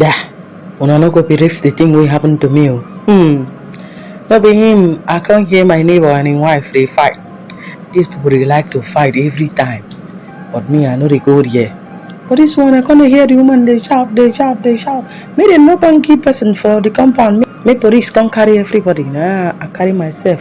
Yeah, una no go believe the thing wey happen to me o. Hmm. No be him, I come hear my neighbor and him wife dey fight. These people dey like to fight every time, but me I no dey go there. But this one I come dey hear the woman dey shout, dey shout, dey shout. Make dem no come kill person for the compound, make, make police come carry everybody. Nah, I carry myself.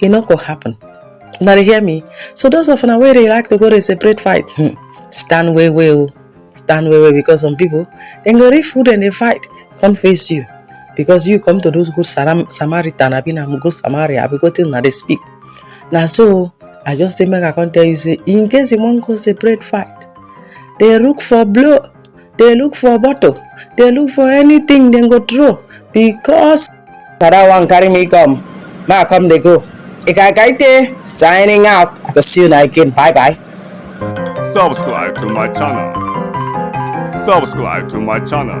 e no go happen una dey hear me so those of una wey dey like to go dey separate fight hmm, stand well well o stand well well because some people dem go reach food and dey fight come face you because you come to do good Saram- samaritan abi na good samaria abi wetin una dey speak na so i just say make i come tell you say in case you wan go separate fight dey look for blow dey look for bottle dey look for anything dem go throw because father wan carry me come ma come dey go ikakaite signing out i go see una again bye bye. Subscribe to my channel. Subscribe to my channel.